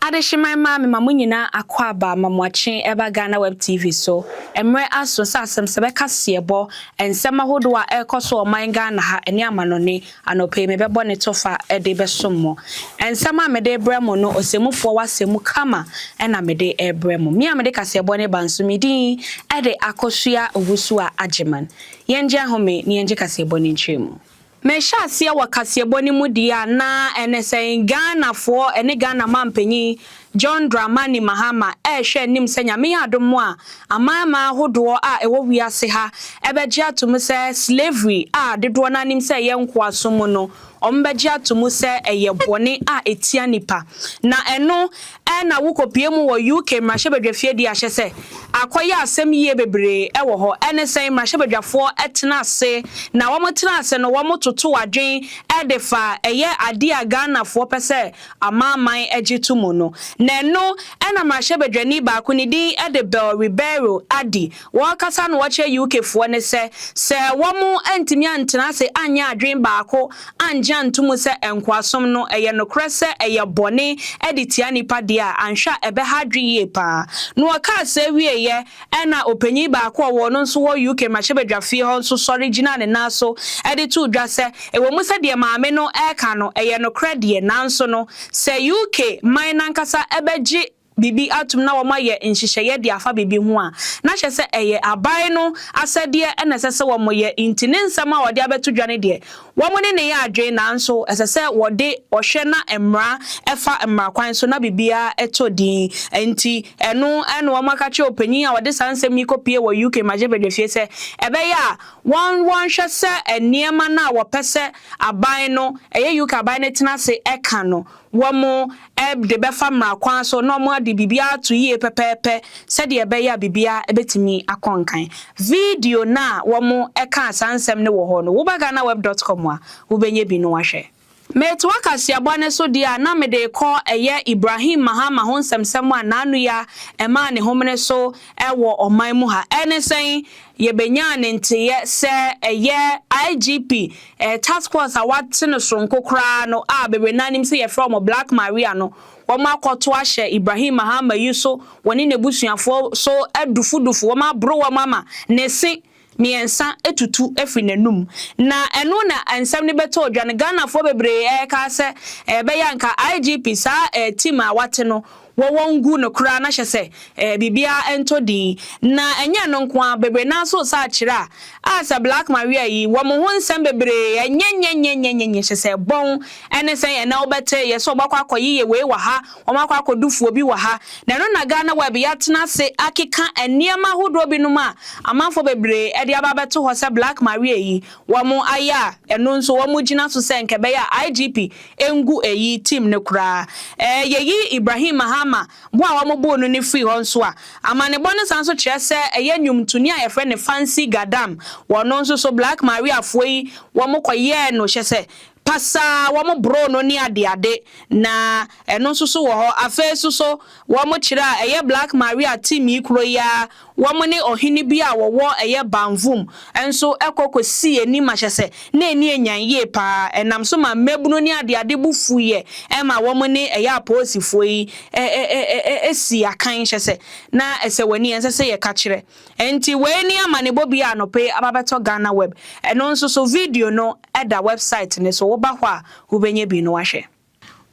Adehyeman mmaa me ma mo nyinaa akwaaba ma mo akye ɛba Ghana Web TV so. Mmerɛ aso sɛ asɛmsɛ bɛka seɛbɔ, nsɛm ahodoɔ a ɛrekɔ so wɔ ɔman Ghana ha ne amanɔne. Anɔpa yi mebɛbɔ ne tofa de bɛsom mo. Nsɛm a mede rebrɛ mo no ɔsɛmufoɔ w'asɛm mu kama na mede rebrɛ mo. Me a mede kaseɛbɔ no reba nso me din de Akosua Owusu-Agyemang. Yɛngye ahome na yɛngye kaseɛbɔ no nkyerɛmu. Mehyɛ aseɛ wɔ kaseɛbɔ no mu deɛ a na ɛne sɛn Ghanafoɔ ne Ghana manpanin John Dramani Mahama rehwɛ anim sɛ Nyame yɛ adom mo a amanaman ahodoɔ a ɛwɔ wiase ha bɛgye ato mu sɛ slavery a dodoɔ no ara nim sɛ ɛyɛ nkoasom mu no wɔbɛgye ato mu sɛ ɛyɛ bɔne a ɛtia nnipa na ɛno Ɛna wokopue mu wɔ UK mmarahyɛbadwafie de ahyɛ sɛ akɔyɛ asɛm yie bebree ɛwɔ hɔ ɛne sɛn mmarahyɛbadwafoɔ ɛtena ase na wɔn tena ase no wɔn toto adwen ɛde fa ɛyɛ adeɛ a Ghanafoɔ pɛ sɛ amanaman ɛgye to mu no na ɛno ɛna mmarahyɛbadwani baako ne din ɛde Bell Ribeiro adi Wɔrekasa na wɔkyerɛ UK foɔ ne sɛ, sɛ wɔn antumi antena ase anyɛ adwene baako angye anto mu sɛ nkoasom no ɛyɛ nokorɛ sɛ ɛyɛ bɔne ɛde tia nnipa deɛ a, anhwɛ a ɛbɛha adwene yie paa. Na ɔkaa sɛɛ wieeɛ ɛna ɔpanyin baako a ɔwɔ ɔno nso wɔ UK mmarahyɛbadwafie hɔ nso sɔre gyinaa ne nan so ɛde too dwa sɛ, ɛwɔ mu sɛ deɛ maame no ɛreka no ɛyɛ nokorɛ deɛ nanso no sɛ UK man no ankasa ɛbɛgye biribi atom na wɔayɛ nhyehyɛeɛ de afa biribi ho a, na kyerɛ sɛ ɛyɛ aban no asɛdeɛ na ɛsɛ sɛ wɔyɛ nti ne nsɛm a wɔde abɛto dwa no deɛ, wɔne no yɛ adwene nanso ɛsɛ sɛ wɔde ɔhwɛ na mmara ɛfa mmara kwan so na biribiara tɔ din. Nti ɛno na wɔaka kyerɛ ɔpanin a ɔde saa nsɛm yi kɔpue wɔ UK mmarahyɛbadwafie sɛ ɛbɛyɛ a wɔn wɔnhwɛ sɛ nneɛma no a wɔpɛ sɛ aban no, ɛyɛ UK aban no tena ase ka no, Wɔde bɛfa mmara kwan so na wɔade biribiara ato yie pɛpɛɛpɛ sɛdeɛ ɛbɛyɛ a biribiara bɛtumi akɔ nkan. Video no a wɔkaa saa nsɛm no wɔ hɔ no, woba ghanaweb dɔt kɔm a, wobɛnya bi no ahwɛ. Metoa kaseɛbɔ no so deɛ a na mede rekɔ ɛyɛ Ibrahim Mahama ho nsɛmsɛm a n'ano ya ɛmaa ne homene so wɔ ɔman mu ha. Ɛne sɛn? Yɛbɛnyaa ne nteeɛ sɛ ɛyɛ IGP Ɛyɛ task force a wɔate no soronko koraa no a bebree no ara nim sɛ yɛfrɛ wɔn Black Maria no, wɔakɔto ahyɛ Ibrahim Mahama yi so, wɔne n'abusuafoɔ so adufudufo, wɔaboro wɔn ama ne se mmiɛnsa atutu afiri n'anum. Na ɛno na nsɛm no bɛtɔɔ dwa no, Ghanafoɔ bebree reka sɛ ɛbɛyɛ a anka IGP, saa team a wɔate no, Wɔ wɔn ngu no koraa na hyɛ sɛ ɛɛ biribiara ntɔ din. Na ɛnyɛ ɛno nko ara, bebree no ara nso resan akyerɛ a, a sɛ Black Maria yi, wɔn ho nsɛm bebree, ɛnyɛ nyɛ nyɛ nyɛ nyɛ nyɛ, hyɛ sɛ bɔn, ɛne sɛn ɛnnɛ wobɛte, yɛ sɛ wɔakɔ akɔyeyɛ wei wɔ ha, wɔakɔ akɔdu fuo bi wɔ ha. Na ɛno na Ghana web yi atena ase akeka nneɛma ahodoɔ binom a amanfoɔ bebree de aba abɛto hɔ sɛ Black Maria yi, wɔayɛ a, ɛno nso wɔgyina so sɛ nka ɛbɛyɛ a IGP Engu eyi tim no koraa. Ɛɛ, yeyi Ibrahim Mahama bo a wɔboo no no firi hɔ nso a, amanebɔ no san nso kyerɛ sɛ ɛyɛ nnwomtoni a wɔfrɛ no Fancy Gadam. Wɔ ɔno nso so, Black Mariafoɔ yi, wɔkɔyɛɛ no kyɛ sɛ pasaa, wɔboroo no ne adeade, na ɛno nso so wɔ hɔ. Afei nso so, wɔkyerɛ a, ɛyɛ Black Maria tim yi koro yi ara Wɔne ɔhene bi a wɔwɔ ɛyɛ Banvum nso kɔ kosii anim ahyɛsɛ na ani anyan yie paa. Ɛnam so maa mmabunu ne adeade bo fuiɛ ma wɔne ɛyɛ apolisifoɔ yi sii akan hyɛsɛ na ɛsɛ w'ani ɛnsɛ sɛ yɛka kyerɛ. Ɛnti wei ne amanebɔ bi a anɔpa yi aba bɛtɔ Ghana Web. Ɛno nso so video no da website no so, woba hɔ a wobɛnya bi no ahwɛ.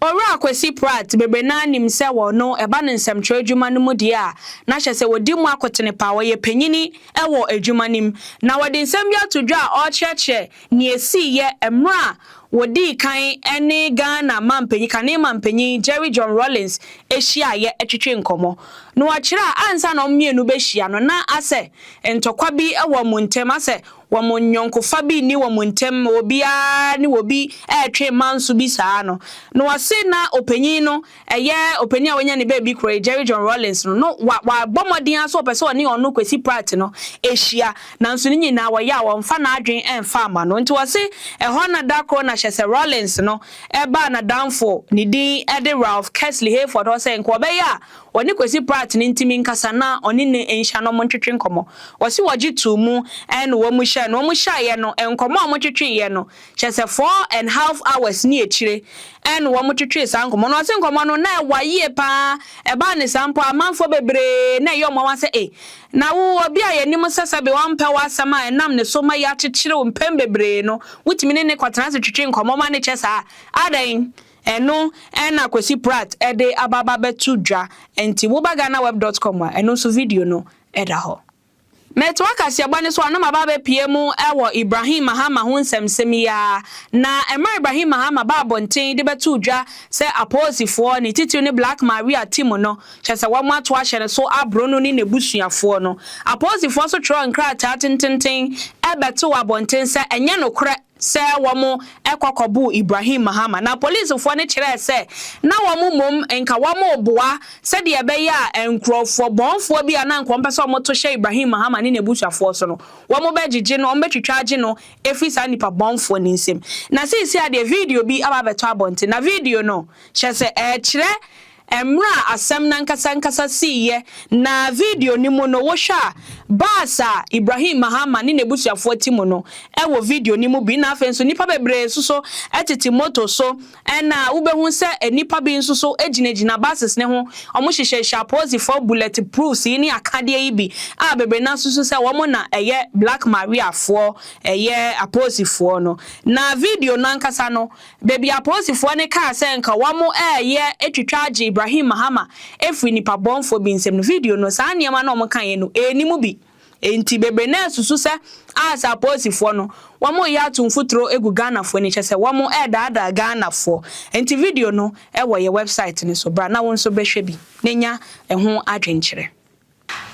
Owura Kwesi Pratt bebree no ara nim sɛ wɔ no ɛba no nsɛmtwerɛ adwuma no mu deɛ a na hyɛ sɛ wɔdi mu akotene paa, ɔyɛ panyini wɔ adwuma no mu. Na wɔde nsɛm bi ato dwa a ɔrekyerɛkyerɛ nea ɛsiiɛ mmerɛ a wɔdii kan ne Ghana mampanyin, kane mampanyin Jerry John Rawlings hyiaeɛ twetwee nkɔmmɔ. Na ɔkyerɛ a ansa na wɔn mmienu bɛhyia no na asɛ ntɔkwa bi wɔ wɔn ntam, asɛ wɔn nyɔnkofa bi nni wɔn ntam ma obiara ne wɔn bi retwe manso bi saa no. Na wɔse na ɔpanyin no, ɛyɛ ɔpanyin a wanya ne baabi korɔ yi, Jerry John Rawlings no, no wa, wabɔ mmɔden ara sɛ ɔpɛ sɛ ɔne ɔno, Kwesi Pratt no, hyia, nanso ne nyinaa wɔyɛ a wɔmfa n'adwene mfa mma no. Nti wɔse ɛhɔ na da koro na hyɛ sɛ Rawlings no baa n'adamfo, ne din de Ralph Kesley Hayford hɔ sɛ nka ɔbɛyɛ a Wɔne Kwesi Pratt ne ntimi nkasa na ɔne no nhyia na wɔn ntwetwe nkɔmmɔ. Wɔse wɔgye too mu ɛna wɔn hyɛɛ no. Wɔn hyaeɛ no, nkɔmmɔ a wɔn twetweeɛ no, kyerɛ sɛ four and half hours ne akyire ɛna wɔn twetwee saa nkɔmmɔ no. Wɔse nkɔmmɔ no na ɛwa yie paa, ɛbaa ne saa mpo a amanfoɔ bebree na ɛyɛ wɔn nwanwa sɛ ei, na wo obi a yɛnim sɛ sɛbe ɔmpɛ wo asɛm a ɛnam ne so ma yɛakyekyere wo mpɛn bebree no, wotumi ne no kɔtena ase twetwe nkɔmmɔ ma no kyɛ saa, adɛn? Ɛno na Kwesi Pratt de aba abɛto dwa, enti woba ghanaweb dot com a, ɛno nso video no da hɔ. Metoa kaseɛbɔ no so a, na maba abɛpue mu wɔ Ibrahim Mahama ho nsɛmnsɛm yi ara, na mmerɛ a Ibrahim Mahama baa abɔnten de bɛtoo dwa sɛ apolisifoɔ, ne titiriw ne Black Maria Team no, kyerɛ sɛ wɔato ahyɛ no so aboro no ne n'abusuafoɔ no, apolisifoɔ nso twerɛɛ nkrataa tententen bɛtoo abɔnten sɛ ɛnyɛ nokorɛ. sɛ wɔn kɔ kɔboo Ibrahim Mahama na polisfoɔ no kyerɛɛ sɛ na wɔn mmom nka wɔn reboa sɛdeɛ ɛbɛyɛ a nkorɔfoɔ bɔnfoɔ bi a na nka wɔpɛ sɛ wɔto hyɛ Ibrahim Mahama ne n'abusuafoɔ so no wɔn bɛgyegye no, wɔn bɛtwitwa agye no afiri saa nnipa bɔnfoɔ no nsam. Na seesei ara deɛ video bi aba abɛtɔ abɔnten na video no kyerɛ sɛ ɛrekyerɛ Mmerɛ a asɛm no ankasa ankasa siiɛ na video no mu no wohwɛ a, bus a Ibrahim Mahama ne n'abusuafoɔ te mu no wɔ video no mu bi na afei nso nnipa bebree nso so tete moto so na wobɛhu sɛ nnipa bi nso so gyinagyina buses no ho, wɔhyehyɛhyehyɛ apolisifoɔ bullet proofs yi ne akadeɛ yi bi a bebree no ara nso so sɛ wɔn na ɛyɛ Black Mariafoɔ, ɛyɛ apolisifoɔ no. Na video no ankasa no. Baabi apolisifoɔ no kaa sɛ nka wɔreyɛ atwitwa agye Ibrahim Mahama afiri nnipa bɔnfoɔ bi nsam no, video no, saa nneɛma no a wɔkaeɛ no, ɛnni mu bi. Enti bebree no ara resusu sɛ aah saa apolisifoɔ no, wɔreyɛ ato mfuturo agu Ghanafoɔ ani, kyerɛ sɛ wɔredaadaa Ghanafoɔ. Enti video no wɔ yɛn wɛbsaet no so, bra na wo nso bɛhwɛ bi na nya ɛho adwenkyerɛ.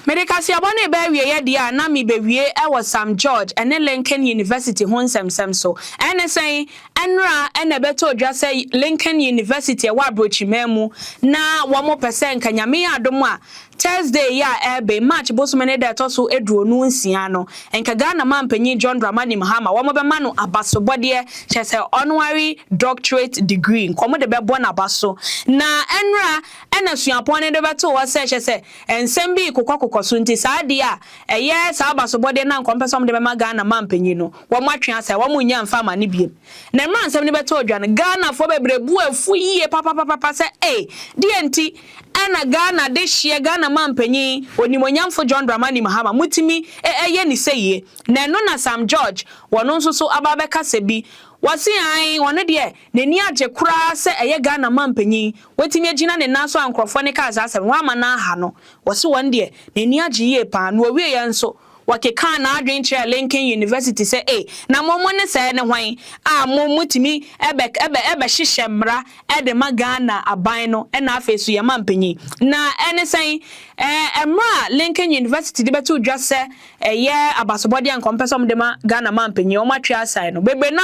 Mede kaseɛbɔ no reba awieeɛ deɛ a na merebɛwie wɔ Sam George ne Lincoln University ho nsɛmnsɛm so. Ɛne sɛn? Ɛnnora na ɛbɛtɔɔ dwa sɛ Lincoln University ɛwɔ Abrokyiman mu na wɔpɛ sɛ nka Nyame yɛ adom a Thursday yi a ɛreben, March bosome ne da a ɛtɔ so aduonu nsia no, nka Ghana Manpanin John Dramani Mahama wɔbɛma no abasobɔdeɛ, kyerɛ sɛ Honorary Doctorate Degree, nka wɔde bɛbɔ n'aba so. Na ɛnnora na suapɔn no de bɛtoo hɔ sɛ, kyerɛ sɛ, Nsɛm bi rekokɔkokɔ so nti saa adeɛ a ɛyɛ saa abasobɔdeɛ no a nka wɔpɛ sɛ wɔde bɛma Ghana mampanyin no, wɔatwe asa, wɔnnya mfa mma no biom. Na mmerɛ a nsɛm no bɛtɔɔ dwa no, Ghanafoɔ bebree bo afu yie papapapapa sɛ ei, deɛn nti na Ghana dehyeɛ, Ghana mampanyin, onimuonyamfo John Dramani Mahama motumi yɛ no sɛie? Na ɛno na Sam George, ɔno nso so aba abɛkasa bi, ɔse ae, ɔno deɛ n'ani agye koraa sɛ ɛyɛ Ghana mampanyin, Watumi agyina ne nan so a nkurɔfoɔ no kaa saa asɛm no, wamma no anha no. Wɔse wɔn deɛ, n'ani agye yie pa ara, na ɔwieeɛ nso, ɔkekaa n'adwene kyerɛɛ Lincoln University sɛ, Ei, na mo mo ne sɛɛ ne hwan a mo motumi bɛ bɛ bɛhyehyɛ mmara de ma Ghana aban no na afei nso yɛn mampanyin? Na ɛne sɛn? Ɛɛ, mmara a Lincoln University de bɛto dwa sɛ ɛyɛ abasobɔdeɛ a anka wɔmpɛ sɛ wɔde ma Ghana mampanyin, wɔatwe asan no. Bebree no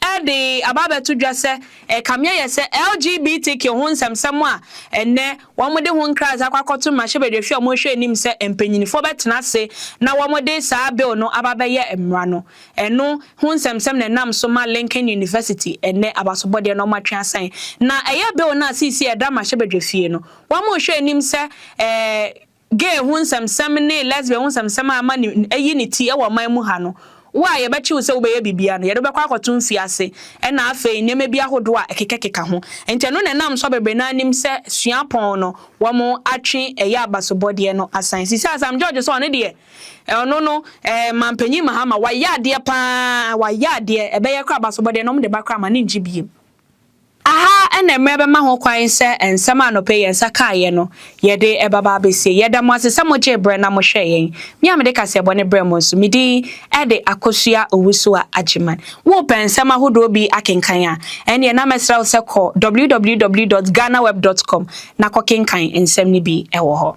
ara de aba abɛto dwa sɛ Ɛkame ayɛ sɛ LGBTQ ho nsɛmnsɛm a ɛnnɛ wɔde ho nkrasɛ akɔ akɔto mmarahyɛbadwahwia a wɔhwɛ anim sɛ mpanyinfoɔ bɛtena ase na wɔde saa bill no aba abɛyɛ mmara no, ɛno ho nsɛmnsɛm na ɛnam so ma Lincoln University ɛnnɛ abasobɔdeɛ no wɔatwe asan. Na ɛyɛ bill no a seesei ɛda mmarahyɛbadwafie no wɔhwɛ anim sɛ ɛɛ gay ho nsɛmsɛm ne lesbian ho nsɛmsɛm a ama ne ayi ne ti wɔ ɔman mu ha no, wo a yɛbɛkye wo sɛ wobɛyɛ biribiara no, yɛde wo bɛkɔ akɔto mfiase ɛna afei nneɛma bi ahodoɔ a ɛkekakeka ho. Enti ɛno na ɛnam so a bebree no ara nim sɛ suapɔn no, wɔatwe ɛyɛ abasobɔdeɛ no asan. Seesei Asam George sɛ ɔno deɛ, ɔno no, ɛɛ Mampanyin Mahama, wayɛ adeɛ pa ara, wayɛ adeɛ, ɛbɛyɛ koraa abasobɔdeɛ no, wɔde ba koraa ma no nngye biem. Aha na mmerɛ bɛma ho kwan sɛ nsɛm a anɔpa yi yɛn nsa kaeɛ no, yɛde ɛba ba abɛsie. Yɛda mo ase sɛ mogyee berɛ na mohwɛɛ yɛn. Me a mede kaseɛbɔ no brɛ mo nso, me din de Akosua Owusu-Agyemang. Worepɛ nsɛm ahodoɔ bi akenkan a, ɛnneɛ na mɛsrɛ wo sɛ kɔ www dot ghanaweb dot com na kɔkenkan nsɛm no bi wɔ hɔ.